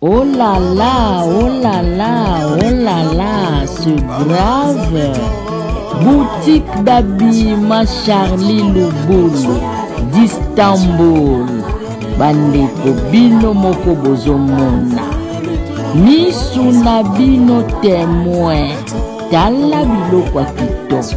Oh là là, oh là là, oh là là, c'est grave. Boutique d'habillement Charlie Lubulu d'Istanbul. Bandeko bino moko bozomona. Misu na bino temoin. Tala biloko ya kitoko.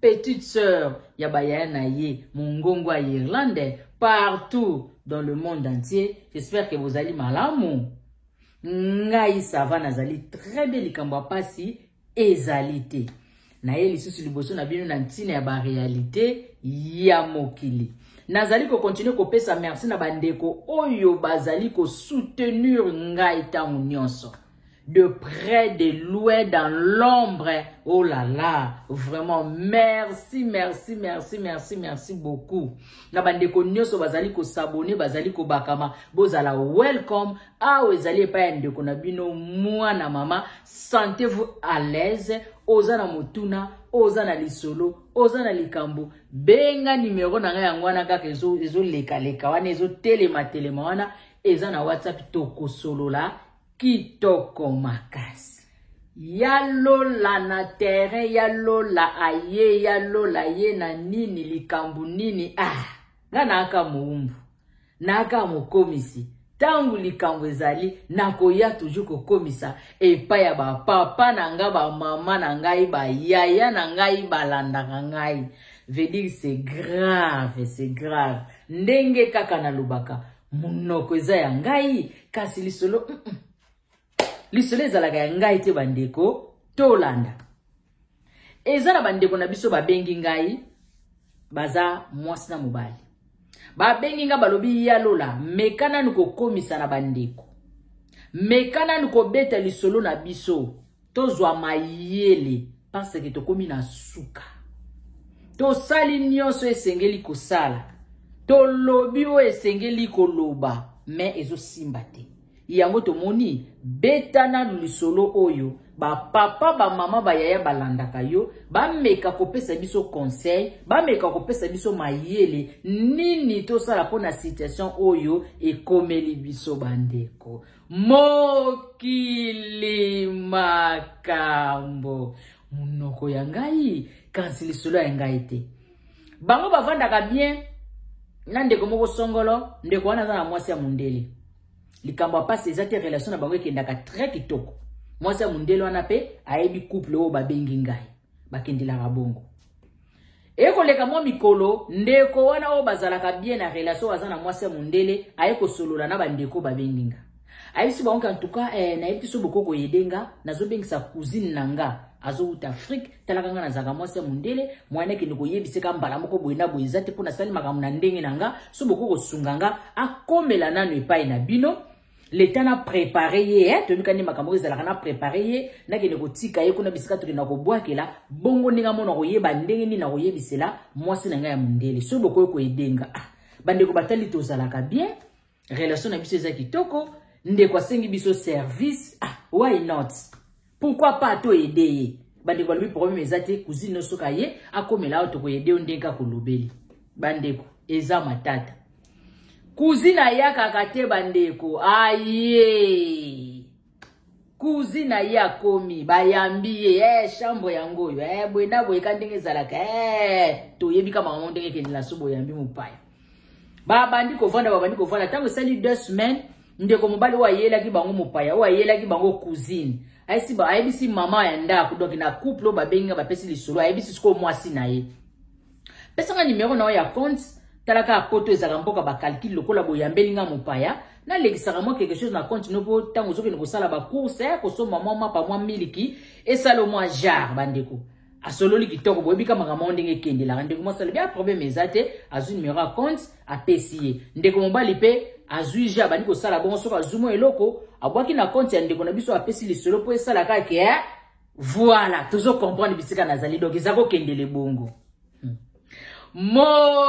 petite sœur ya bayaya na ye mongongo ya irlande partout dans le monde entier j'espère que bozali malamu ngai sava nazali très bien likambo ya mpasi ezali te naye lisusu liboso na bino na ntina ya barealité ya mokili nazali kokontinue kopesa merci na bandeko oyo bazali kosoutenir ngai ntango nyonso de près, de loin, dans l'ombre. Oh là là, vraiment, merci, merci, merci, merci, merci beaucoup. Na bande ko nyoso bazali ko s'abonner, bazali ko bakama, bozala welcome. Ah, ezali epai ya ndeko na bino, mwana mama, sentez-vous à l'aise, oza na motuna, oza na lisolo, oza na likambo, benga numero na nga yango wana kaka ezo, ezo leka leka wana, ezo telema telema wana, eza na WhatsApp tokosolola, Kitoko makasi. Ya lola na terrain ya lola aye ya lola ye na nini likambu nini ah nga naaka moumbu naaka mokomisi ntango likambo ezali nakoya toujours kokomisa epai ya bapapa na ngai bamama na ngai bayaya na ngai balandaka ngai vedire c'est grave c'est grave ndenge kaka nalobaka Munoko eza ya ngai kasi lisolo mm -mm. lisolo ezalaka ya ngai te bandeko tolanda eza na bandeko na biso babengi ngai baza mwasi na mobali babengi ngai balobi ya lola meka nanu kokomisa na bandeko meka nanu kobeta lisolo na biso tozwa mayele parce que tokomi na suka tosali nyonso esengeli kosala tolobi oyo esengeli koloba me ezosimba te yango tomoni beta nanu lisolo oyo bapapa bamama bayaya balandaka yo bameka kopesa biso conseil bameka kopesa biso mayele nini tosala mpo na situation oyo ekomeli biso bandeko mokili makambo monoko ya ngai kasi lisolo ya ngai te bango bavandaka bien na ndeko moko songolo ndeko wana aza na mwasi ya mondele likambo ya mpasi eza te relation na bango ekendaka très kitoko mwasi ya mondele wana mpe ayebi couple oyo babengi ngai bakendelaka bongo eye koleka mwa mikolo ndeko wana oyo bazalaka bien na relation aza na mwasi ya mondele aye kosolola na bandeko babengi nga ayebisi bango ke antuka eh, nayebi te so boko koyede nga nazobengisa cousine na nga azowuta afrike talaka nga nazalaka mwasi ya mondele mwana akende koyebiseka mbala moko boye na boye eza te mpo nasali makambo na ndenge na nga so boko kosunga nga akomela nano epai na bino leta na prepare ye eh? toyebi kani makambo oyo ezalaka na prepare ye nakende kotika ye kuna bisika tokenda kobwakela bongo ndenge amona koyeba ndenge nini nakoyebisela mwasi na ngai ya mondele soki bokoki koyedenga ah, bandeko batali tozalaka bien relation na biso eza kitoko ndeko asengi biso service ah, why not Pourquoi pas to aider ye? Bande ko lobi problème ezate cousine no soka ye akomela awa toko aider ondenka ko lobeli. Bande ko eza matata. Cousine ayaka kate bande ko aye. kuzi na ye akomi bayambi ye eh, chambre yango oyo eh, boye na boye ka ndenge ezalaka eh, toyebi ka makambo ndenge ekende na so boyambi mopaya babandi kovanda babandi kovanda ntango esali deux semaines ndeko mobali oyo ayelaki bango mopaya oyo ayelaki bango cousine ayesi ba ayebisi mama ya ndako donc na couple oyo babengi nga bapesi lisolo ayebisi sikoyo mwasi na ye pesanga nimero na yo ya compte talaka poto ezalaka mboka bacalcule lokola boyambeli nga mopaya nalekisaka mwa quelque chose na compte no mpo ntango ozokende kosala bacourse ya kosomba mwa mapa mwa miliki esala mwa jare bandeko asololi kitoko boyebi ka makambo yango ndenge ekendelaka ndeko mwasi alobi a ah, probleme eza te azwi numero ya compte apesi ye ndeko mobali mpe azwi je abandi kosala bongo soki azwi mwa eloko abwaki na compte ya ndeko na biso apesi lisolo mpo esala kaka ke eh, voilà tozo comprendre bisika nazali donc eza kokendele bongo hmm. mokili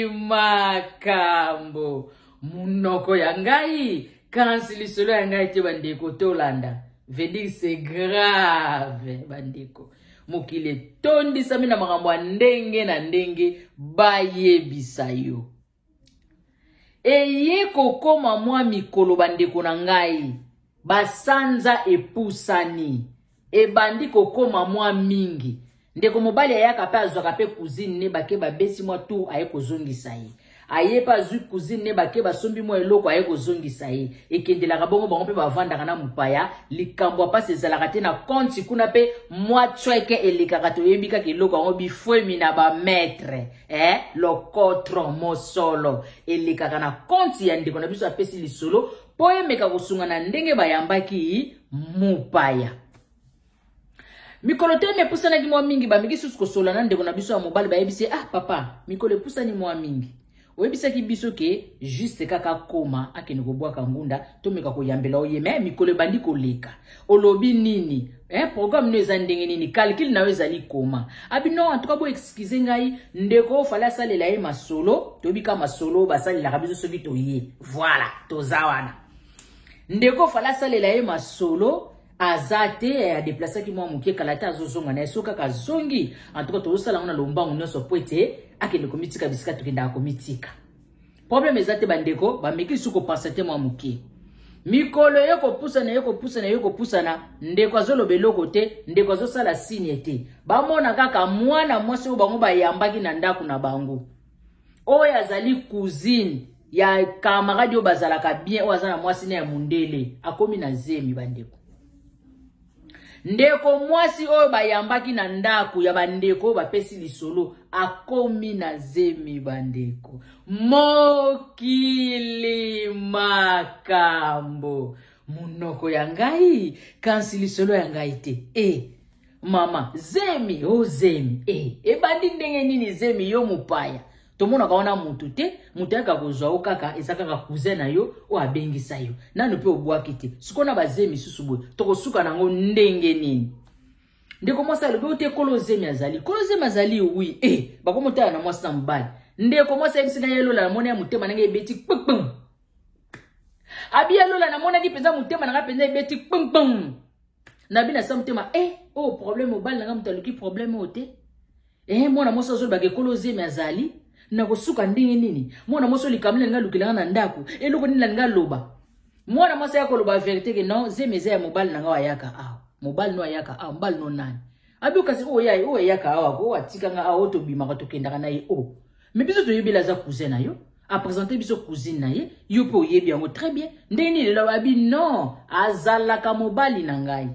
makambo Munoko ya ngai kasi lisolo ya ngai te bandeko tolanda vedir se grave bandeko mokili etondisami na makambo ya ndenge na ndenge bayebisa yo eye kokoma mwa mikolo bandeko na ngai basanza epusani Ebandi kokoma mwa mingi. Ndeko mobali ayaka mpe azwaka mpe cousine ne bake babesi mwa tour aye kozongisa ye. Aye mpe azwi cousine ne bake basombi mwa eloko aye kozongisa ye. Ekendelaka bongo bango mpe bavandaka na mopaya. Likambo ya mpasi ezalaka te na konti kuna mpe mwa cweke elekaka toyebi kaka eloko yango bifwemi na ba maitre. Eh, lokotro, mosolo, elekaka na konti ya ndeko na biso apesi lisolo mpo emeka kosunga na ndenge bayambaki mopaya mikolo te mepusanaki mwa mingi bameki susu kosola na ndeko na biso ya mobali bayebisi ah papa mikolo epusani mwa mingi oyebisaki biso ke juste kaka akoma akende kobwaka ngunda tomeka koyambela oye me mikolo ebandi koleka olobi nini eh, programme no eza ndenge nini calcule na yo ezali koma abi ah, non antuka bo excuse ngai ndeko oyo fale asalela ye masolo toyebi ka masolo basalelaka biso soki toye voilà toza wana ndeko fala asalela ye masolo aza te eh, adeplasaki mwa moke kala te azozonga na ye soki kaka azongi antuka tozosala yango na lombango nyonso mpo ete akende komitika bisika tokendaka komitika probleme eza te bandeko bameki lisusu kopansa te mwa moke mikolo ye kopusana ye kopusana ye kopusana ndeko azoloba eloko te ndeko azosala signe te bamona kaka mwana mwasi oyo bango bayambaki na ndako na bango oyo azali cousine ya camarade oyo bazalaka bien oyo aza na mwasi na ya mundele akomi na zemi bandeko ndeko mwasi oyo bayambaki na ndako ya bandeko oyo bapesi lisolo akomi na zemi bandeko mokili makambo monoko ya ngai kasi lisolo ya ngai te e eh. mama zemi o oh, zemi e eh, ebandi ndenge nini zemi yo mopaya tomonaka wana motu te moto ayaka kozwa yo kaka eza kaka cousin na yo oyo abengisa yo nano mpe obwaki te sikoyo na bazemi susu boye tokosuka na yango ndenge nini ndeko mwasi alobi oyo te kolo zemi azali kolo zemi azali wi e eh, bakomotala na mwasi na mobali ndeko mwasi ayebisi na ye lola namoni ya motema ndenge ebeti kpkpm abi ya lola namonaki mpenza motema na ngai mpenza ebeti kpkpm na bino asa motema e eh, oyo oh, problème mobali na ngai moto aluki problème oyo te ee eh, mwana mwasi azolobaka ekolo ozemi azali nakosuka ndenge nini mwana mwasi oyo likambo nalinga alukela ngai na ndako eloko nini nalinga aloba mwana mwasi aya koloba verité ke non zemi eza ya mobali na ngai ayaka awa mobali no ayaka awa mobali no nani Abio kasi oyo ya oyo ya kawa ko atika nga awo to bimaka to kendaka na ye o. Mais biso to yebela za cousin na yo. A présenter biso cousine na ye, yo pe oyebi yango très bien. Ndenge nini lelo abi non, azalaka mobali na ngai.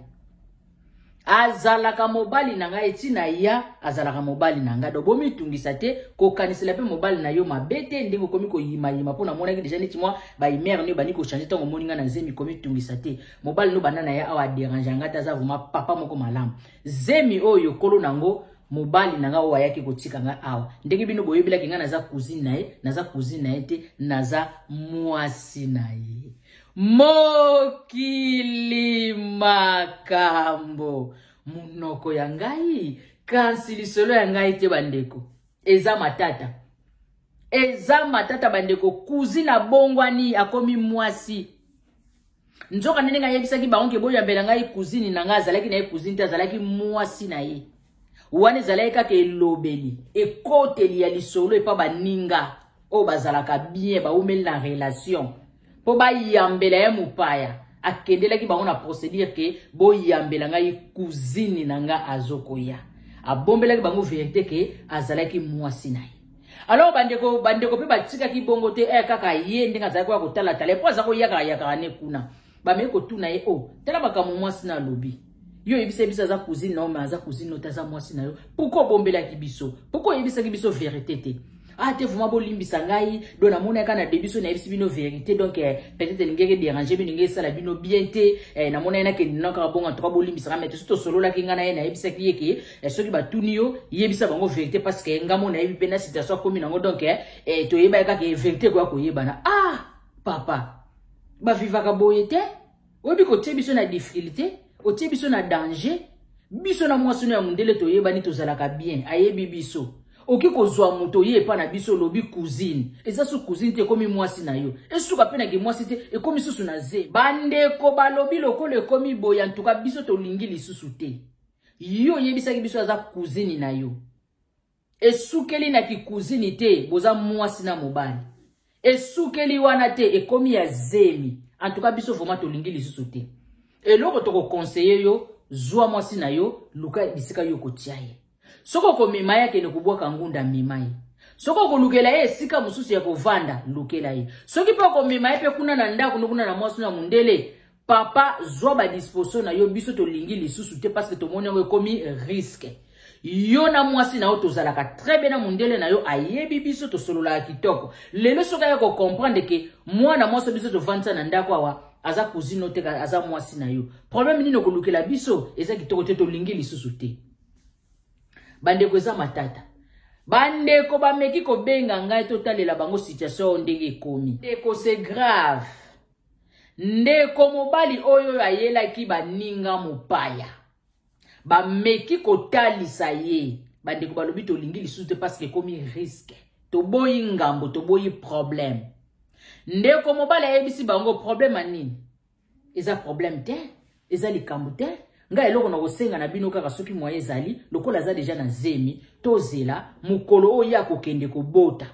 azalaka mobali na ngai ntina ya azalaka mobali na ngai do bomitungisa te kokanisela mpe mobali na yo mabe te ndenge okomi koyimayima mpo namonaki deja neti mwa baimere nde obandi kochange ntango omoni ngai na zemi komitungisa te mobali no banda na ye awa aderange yanga te aza vraimen papa moko malamu zemi oyo kolo na yango mobali na ngai oyo ayaki kotika ngai awa ndenge bino boyebelaki ngai naza cousine na ye naza cousine na ye te naza mwasi na ye mokili makambo monoko ya ngai kasi lisolo ya ngai te bandeko eza matata eza matata bandeko cousine abongwani akomi mwasi nzoka nde ndenge ayebisaki bango ke boyambela ngai cousine na ngai azalaki na ye cousine te azalaki mwasi na ye wana ezalaki kaka elobeli ekoteli ya lisolo epa baninga oyo bazalaka bien baumeli na relation mpo bayambela ye mopaya akendelaki bango na procédure ke boyambela ngai cousine na nga azokoya abombelaki bango verité ke azalaki mwasi na ye alors bandeko bandeko mpe batikaki bongo te eh, kaka ye ndenge azalaki koya kotalatala mpo aza koyakaka yakaka ne kuna bameki kotuna ye o oh, tala makambo mwasi na alobi yo oyebisaki biso aza cousine nao ma aza cousine no te aza mwasi na yo pourkui obombelaki biso pourkui oyebisaki biso verité te ah te vraimen bolimbisa ngai do namonaka na debiso nayebisi bino verité donc eh, peut-être elingaki dérange bino ngai esala bino bien te eh, namonaki nakende nao kaka bongo antoka bolimbisa ngai mete so tosololaki ngai na ye nayebisaki ye ke eh, soki batuni yo yebisa bango verité parce que ngai mo nayebi mpe na situation akomi nango donc eh, eh, toyebaki kaka verité ekoya koyebana ah papa bavivaka boye te oyebi kotie biso na difficulté otie biso na danger biso na mwasi no ya mondele toyebani tozalaka bien ayebi biso oki kozwa moto oye epa na biso olobi cousine eza su cousine te ekomi mwasi na yo esuka mpe na kimwasi te ekomi susu na ze bandeko balobi lokola ekomi boye antuka biso tolingi lisusu te yo oyebisaki biso aza cousine na yo esukeli na kikuzini te boza mwasi na mobali esukeli wana te ekomi ya zemi antuka biso vraimen tolingi lisusu te eloko tokokonseye yo zwa mwasi na yo luka bisika yo kotia ye soki okomema ye akende kobwaka ngunda mema ye soki okolukela ye esika mosusu ya kovanda lukela ye soki mpe okomema ye mpe kuna na ndako nokuna na mwasi na mondele papa zwa ba disposition na yo biso tolingi lisusu te parce que tomoni yango ekomi risque yo na mwasi na yo tozalaka très bien na mondele na yo ayebi biso tosololaka kitoko lelo soki aya kocomprendre ke mwana mwasi biso tovandisa na ndako awa aza cousine oyo te aza mwasi na yo problème nini okolukela biso eza kitoko te tolingi lisusu te bandeko eza matata bandeko bameki kobenga ngai totalela bango situation oyo ndenge ekomi ndeko c'est grave Ndeko mobali oyo oyo ayelaki baninga mopaya bameki kotalisa ye bandeko balobi tolingi lisusu te parce que ekomi risque toboyi ngambo toboyi problème ndeko mobali ayebisi bango problème ya nini eza problème te eza likambo te ngai eloko na kosenga na bino kaka soki moye ezali lokola aza deja na zemi tozela mokolo oyo ye akokende kobota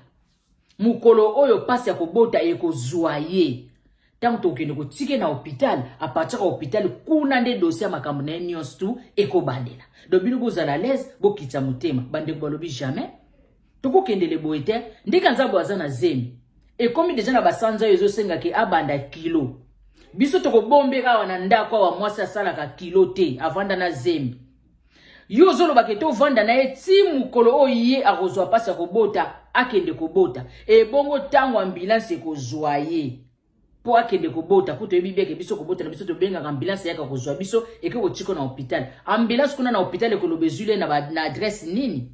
mokolo oyo mpasi ya kobota ekozwa ye ntango tokokende kotike na hopitale apartira hopitale kuna nde dosie ya makambo na ye nyonso tu ekobandela do bino bozala alaise bokitisa motema bandeko balobi jamais tokokendele boye te ndenge nzambo aza na zemi ekomi deja na basanza oyo ezosenga ke abanda kilo biso tokobombeka awa na ndako awa mwasi asalaka kilo te avanda na zemi yo ozolobaka ete ovanda na ye ti mokolo oyo ye akozwa mpasi ya kobota akende kobota ebongo ntango ambulanse ekozwa ye mpo akende kobota mpo toyebi beke biso kobota na biso tobengaka ambulanse yaka kozwa biso eke kotika na hôpital ambulanse kuna na hôpital ekoloba ezwili ye na adresse nini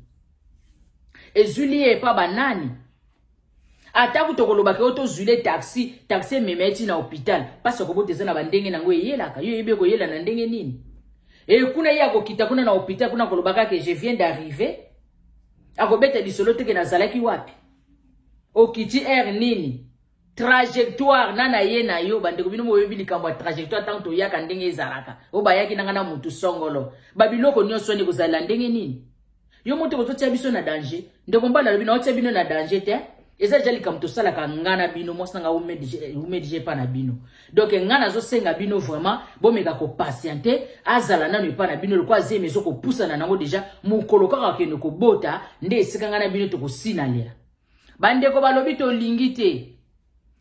ezwili ye epa banani ata kutu okolobaka yo tozwile taxi taxi emema ye ti na hopital mpasi akobota eza na bandenge na yango eyelaka yo eyebi ekoyela na ndenge nini e kuna ye akokita kuna na hopital kuna akoloba kaka je viens d'arriver akobeta lisolo teke nazalaki wapi okiti aire nini trajectoire na na ye na yo bandeko bino boyebi likambo ya trajectoire ntango toyaka ndenge ezalaka oyo bayaki nanga na motu songolo babiloko nyonso wana ekozala ndenge nini yo moto ozotia biso na danger ndeko mbanda alobi naotia bino na danger te eza deja likambo tosalaka nga na bino mwasi na nga umedg epa na bino donk nga nazosenga bino vraiment bomeka kopatiente azala nano epa na bino lokola zemi ezokopusana nango deja mokolo kaka kende kobota nde esika nga na bino tokosinalela bandeko balobi tolingi te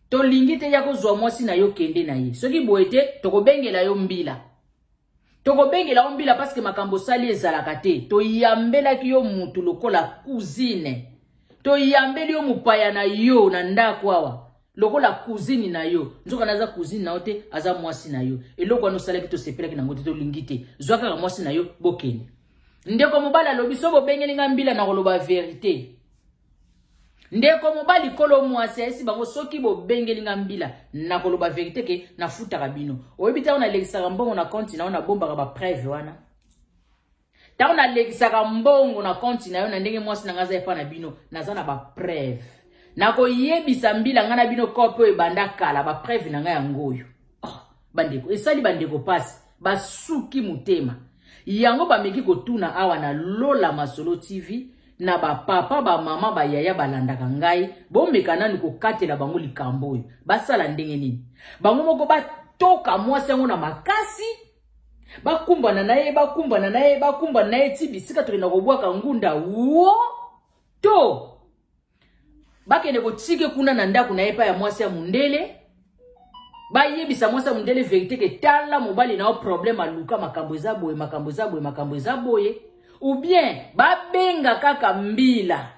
tolingi te ya kozwa mwasi na yo kende na ye soki boye te tokobengela yo mbila Tokobengela yo mbila parce que makambo osali ezalaka te. Toyambelaki yo mutu lokola cousine. Toyambeli yo mopaya na yo na ndako awa lokola cousine na yo nzoka naza cousine na yo te aza mwasi na yo eloko wana osalaki tosepelaki nango te tolingi te zwa kaka mwasi na yo bokende ndeko mobali alobi so bobengeli ngai mbila na koloba verite ndeko mobali kolo mwasi ayesi bango soki bobengeli nga mbila nakoloba verite ke nafutaka bino oyebi ntango nalekisaka mbongo na konti na yo nabombaka bapreve wana ntango nalekisaka mbongo na konti na yo na ndenge mwasi na ngai aza epai na bino naza na bapreve nakoyebisa mbila ngai na bino kope oyo ebanda kala bapreve na ngai yango oyo bandeko esali bandeko pasi basuki motema yango bameki kotuna awa na lola masolo tv na bapapa bamama bayaya balandaka ngai bomeka nanu kokatela bango likambo oyo basala ndenge nini bango moko batoka mwasi yango na makasi bakumbana na ye bakumbana na ye bakumbana na ye ti bisika tokenda kobwaka ngunda wo to bakende kotike kuna na ndako na ye epai ya mwasi ya mondele bayebisa mwasi ya mondele verite ke tala mobali na yo problème aluka makambo eza boye makambo eza boye makambo eza boye ou bien babenga kaka mbila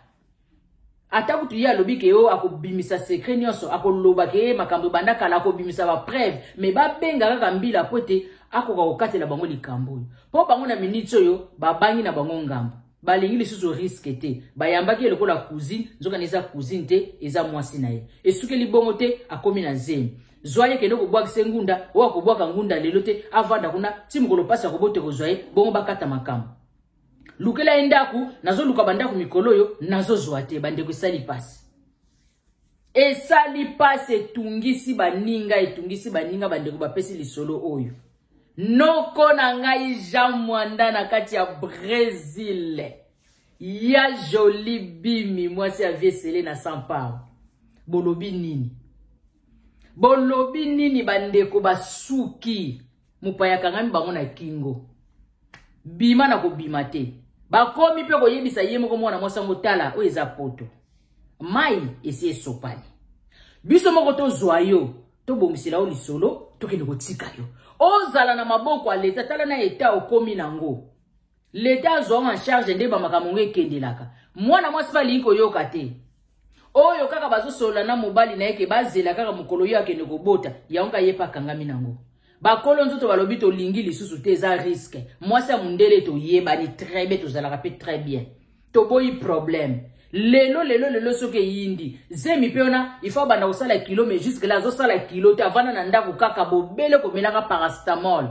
ata kutu ye alobi ke yo akobimisa sekre nyonso akoloba ke ye makambo ebanda kala akobimisa bapreve me babenga kaka mbila mpo ete akoka kokatela bango likambo oyo mpo bango na miniti oyo babangi na bango ngambo balingi lisusu riske te bayambaki ye lokola cousine nzokani eza cousine te eza mwasi na ye esukeli bongo te akomi na zemi zwa ye kende kobwakisa ye ngunda oyo akobwaka ngunda lelo te avanda kuna ti mokolo mpasi akobota ekozwa ye bongo bakata makambo lukela ye ndako nazoluka bandako mikolo oyo nazozwa te bandeko esali mpasi esali mpasi etungisi baninga etungisi baninga bandeko bapesi lisolo oyo noko na ngai jean mwanda na kati ya bresil ya joli bimi mwasi ya vie sele na sampao bolobi nini bolobi nini bandeko basuki mopaya akangami bango na kingo bima na kobima te bakomi mpe koyebisa ye moko mwana mwasi yango tala oyo eza poto mai esi esopani biso moko tozwa yo tobongisela yo lisolo tokende kotika yo ozala na maboko ya leta tala na eta okomi nango L'etat azwa ngo en charge nde ba makambo ngo ekendelaka. Mwana mwasi pe alingi koyoka te. Oyo kaka bazosolola na mobali na ye ke bazela kaka mokolo yo akende kobota, yango ka ye pe akangami nango. Bakolo nzoto balobi tolingi lisusu te eza risque. Mwasi ya mundele toyebani très bien tozalaka pe très bien. Toboyi problème. Lelo lelo lelo soki eyindi zemi pe wana il faut abanda kosala kilo mais jusque là azosala kilo te avanda na ndako kaka bobele komelaka paracetamol.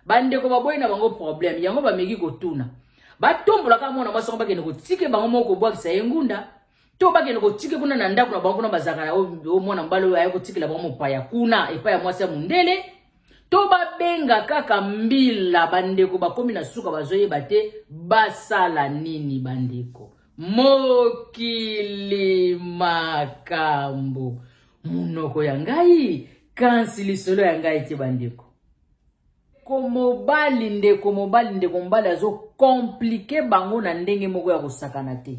bandeko baboyi na bango problème yango bameki kotuna batombola kaka mwana mwasi yango bakende kotike bango moko kobwakisa ye ngunda to bakende kotike kuna na ndako na bango kuna bazalaka na oyo mwana mobali oyo aye kotikela bango mopaya kuna epai ya mwasi ya mondele to babenga kaka mbila bandeko bakomi na suka bazoyeba te basala nini bandeko mokili makambo monoko ya ngai kasi lisolo ya ngai te bandeko komobali ndeko mobali ndeko mobali azokomplike bango na ndenge moko ya kosakana te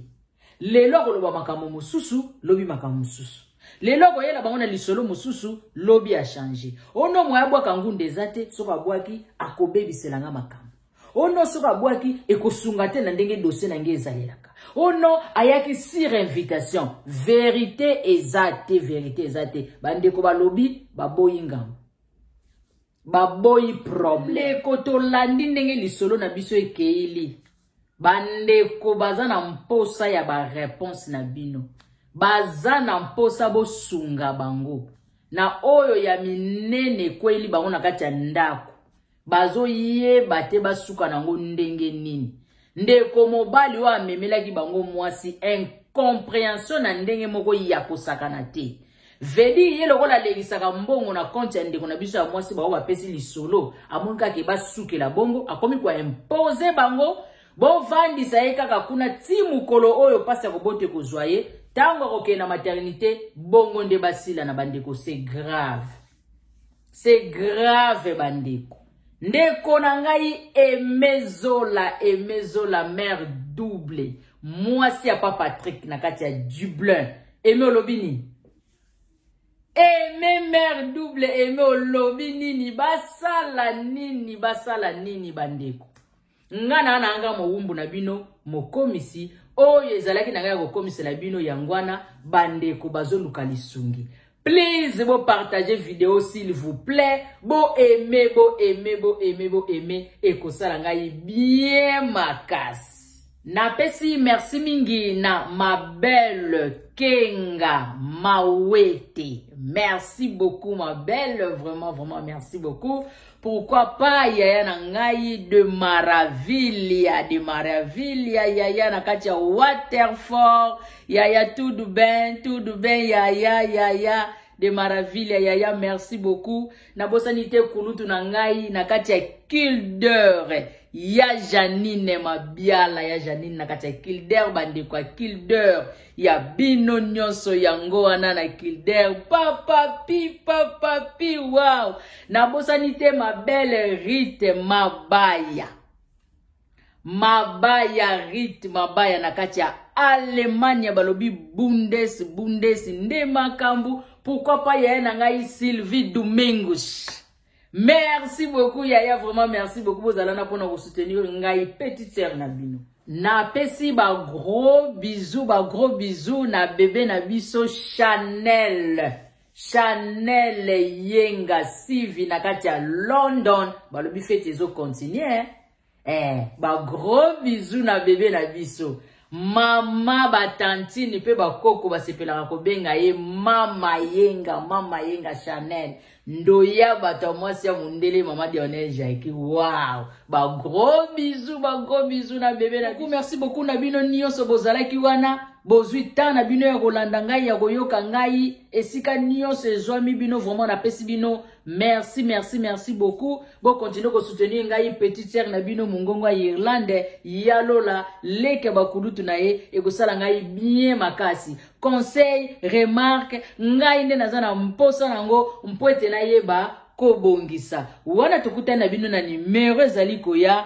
lelo akoloba makambo mosusu lobi makambo mosusu lelo akoyela bango na lisolo mosusu lobi achange ono moye abwaka ngunda eza te soki abwaki akobebisela nga makambo ono soki abwaki ekosunga te na ndenge dosie na ngai ezalelaka ono ayaki sur invitation verite eza te verite eza te bandeko balobi baboyi ngambo baboyi problème ndeko tolandi ndenge lisolo na biso ekeili bandeko baza na mposa ya bareponse na bino baza na mposa bosunga bango na oyo ya minene ekweli bango na kati ya ndako bazoyeba te basuka nango ndenge nini ndeko mobali oyo amemelaki bango mwasi incomprehension na ndenge moko ya kosakana te vedi ye lokola alekisaka mbongo na konte ya ndeko na biso ya mwasi bango bapesi lisolo amoni kaka ebasukela bongo akomi koimpose bango bovandisa ye kaka kuna ti mokolo oyo mpasi ya kobota ekozwa ye ntango akokende na maternité bongo nde basila na bandeko se grave c'est grave bandeko ndeko na ngai emezola emezola mare double mwasi ya pa patrick na kati ya dublin eme olobi nini eme mare double eme olobi nini basala nini basala nini bandeko nga na nanga mowumbu na bino mokomisi oyo ezalaki na ngai ya kokomisela bino yango wana bandeko bazoluka lisungi please bopartage video s'il vous plaît boaime boaime boaime boaime ekosala ngai bien makasi napesi merci mingi na ma belle kenga mawete merci beaucoup ma belle vraiment vraiment merci beaucoup Pourquoi pas yaya na ngai de Maravilha, de Maravilha, yaya na kati ya Waterford, yaya tudo bem, tudo bem, yaya, yaya de Maravilha, yaya merci beaucoup. Nabosani te kulutu na ngai na kati ya Kilder, ya Janine Mabiala, ya Janine na kati ya Kilder, bandeko ya Kilder. ya bino nyonso yango wana na kilder papapi papapi wow nabosani te ma belle rite mabaya mabaya rite mabaya na kati ya alemania balobi bundes bundes nde makambo pourkui pa yaye na ngai sylvie domingos Merci beaucoup yaya vraiment merci beaucoup bozala na pona ko soutenir ngai petite sœur na bino. Na pesi ba gros bisous ba gros bisous na bébé na biso Chanel. Chanel Yenga Sivi na kati ya London balobi fete ezo continuer. eh, ba gros bisous na bebe na biso mama batantine mpe bakoko basepelaka kobenga ye mama yenga mama yenga chanel ndoya bato ya mwasi ya mondele mama dionel jaki wow bagros bizu bagros bizu na bebe na merci beaucoup na bino nyonso bozalaki wana bozwi ntan na bino ya kolanda ngai ya koyoka ngai esika nyonso ezwami bino vraimen napesi bino merci merci merci beaucoup bokontinue kosoutenir ngai petit sere na bino mongongo ya irlande ya lola leke bakulutu na ye ekosala ngai bien makasi conseil remarque ngai nde naza na mposa na yango mpo ete nayeba kobongisa wana tokutani na bino na nimero ezali koya